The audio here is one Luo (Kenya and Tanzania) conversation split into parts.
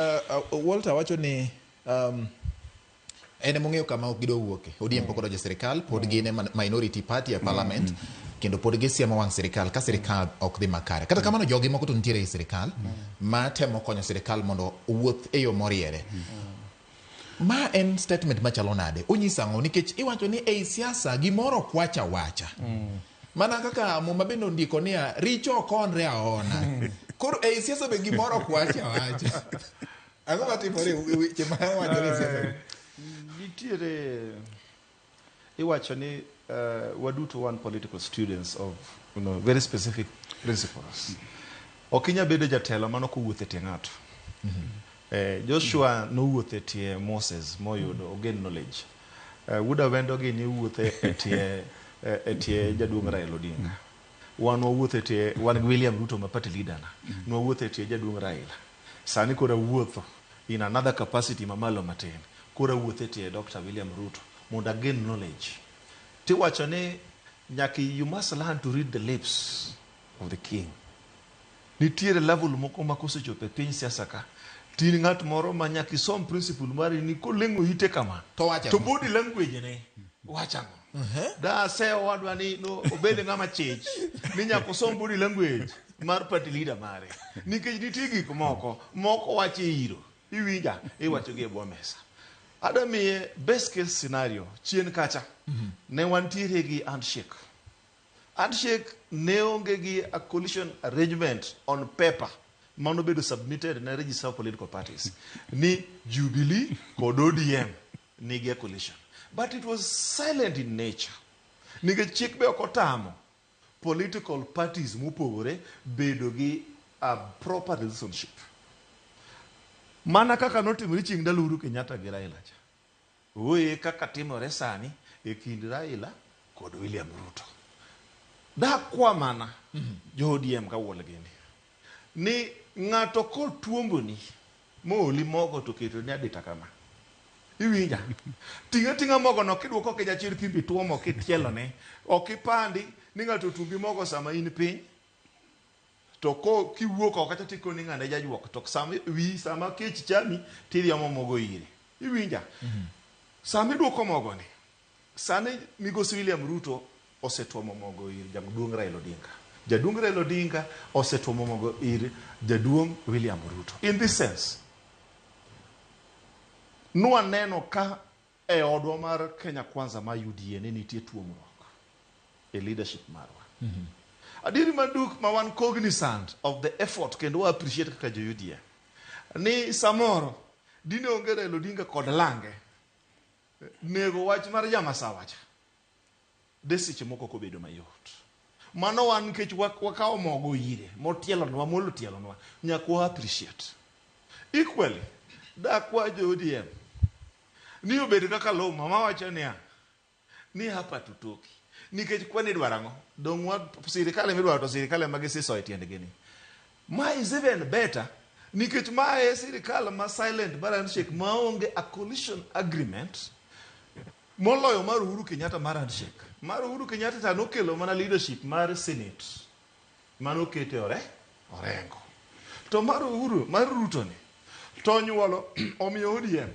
Uh, Walter wacho ni um, en emong'eyo kama ok gidwa wuoke odm pok odonjo e sirikal pod gin e man- minority party e parliament kendo pod gisiemo wang' sirikal ka sirikal ok dhi makare kata kamano jogi moko to nitiere e sirikal ma temo konyo sirikal mondo owuoth e yo moriere ma en statement machalo nade onyiso ang'o nikech iwacho ni ei siasa gimoro kwacha wacha Mana kaka Muma bende ondiko niya, richo ok onre aona. Koro ei siasa be gimoro ok wach awacha. Ang'o matimore e weche ma wachore e siasa? Nitiere iwacho ni eh, waduto wan political students of you know, very specific principles. Ok inya bedo jatelo mano kowuotho e tie ng'ato. Eh, Joshua nowuotho e tie Moses moyudo ogen knowledge. Eh, Wuod Awendo gi ni wuothe e tie e- e tie jaduong' Raila Odinga. Wan wawuothe e tie wan gi William Ruto ma party leader na. Ne wawuothe e tie jaduong' Raila. Sani koro awuotho in another capacity mamalo matin. Koro awuothe e tie Dr. William Ruto mondo again knowledge. Tiwacho ni nyaka you must learn to read the lips of the king. Nitiere level moko ma kosechopo e piny siasa ka to in ng'at moro ma nyaka isom principle mari ni koleng'o ite kama To wacho to ang'o? body language ne wacho ang'o. Da ase owadwa ni no, obed ng'ama chich ni nyaka osom body language mar party leader mare nikech nitie gik moko moko wacho e iro iwinja iwacho gi e bwo mesa. Ada miye best case scenario chien kacha ne wantiere gi handshake Handshake ne onge gi a coalition arrangement on paper ma nobedo submitted ne register of political parties ni Jubilee kod ODM nigi a coalition. But it was silent in nature. Nikech chik be ok otamo political parties mopogore bedo gi a proper relationship. Mana kaka notimore chieng' ndalo Uhuru Kenyatta gi Raila cha. Ooye kaka timore sani e kind Raila kod William Ruto. Dakwa mana jo ODM ka wuol gini ni ng'ato kotuomboni mooli mogo to ketoni adita kama, iwinja? Ting' ating'a mogono kiduoko Kijachir kibiro ituomo kitielone. Ok ipandi ni ng'ato otuombi mogo sama in piny. To ko kiwuok oko kacha tikoni ng'ane jajuok to sama wi sama kech chami tidhi omo mogo ire. Iwinja? Mm-hmm. Sama iduoko mogo ni sani migosi William Ruto osetuomo mogo ir jaduong' Raila Odinga. Jaduong' Raila Odinga osetuomo mogo ir jaduong' William Ruto. In this sense, nwaneno ka E odwa mar Kenya Kwanza mar UDA ne nitie tuomruok e leadership marwa. Adieri maduk ma wan cognizant of the effort kendo wa appreciate kaka jo UDA ni samoro dine onge Raila Odinga kod lange nego wach mar ja masawa cha. de seche moko ok obedo mayot. Mano wan nikech wakawo mogo ire, motielonwa, molo tielonwa, nyaka wa appreciate. Equally, dakwa jo ODM ni obed kaka Luma mawacho niya, ni hapa tutoki. Nikech kwani idwaro ang'o? Donge sirikal ema idwaro to sirikal ema gisiso e tiendgi ni. Ma is even better nikech ma e sirikal ma silent mar handshake ma onge a coalition agreement moloyo mar Uhuru Kenyatta mar handshake. Mar Uhuru Kenyatta ta nokelo mana leadership mar Senate mano kete ore orengo. To mar Uhuru mar Ruto ni to onyuolo omiyo ODM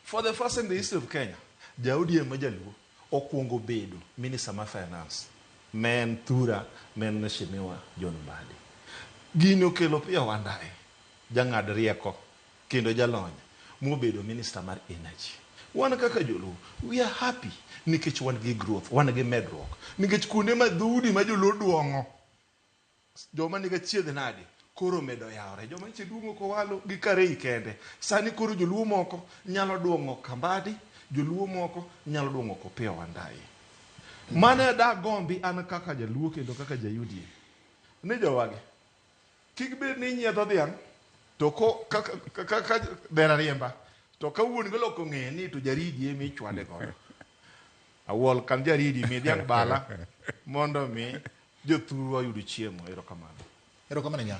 For the first in the history of Kenya, ja ODM ma jaluo okwongo bedo minister ma finance ne en thura ne en Mheshimiwa John Mbadi. Gini okelo Opiyo Wandayi jang'ad rieko kendo jalony mobedo minister mar energy. Wan kaka joluo we are happy nikech wan gi growth, wan gi medruok nikech kuonde ma dhoudi ma joluo duong'o joma niga chiedh nadi koro medo yawore joma nyiche duong'o kowalo gi karei kende sani koro joluo moko nyalo duong'o kambadi joluo moko nyalo duong'o kopiyo wandayi mane da gombi an kaka jaluo kendo kaka jayudie ni jowagi kik bed ni inyiedho dhiang' to ko kaka ka, ka, ka, dhera riemba to ka wuon golo kong'e ni to jaridi emi ichwade godo Awol kan jaridi mi dhiang' bala mondo mi jothurwa oyud chiemo. Erokamano. Erokamano nya.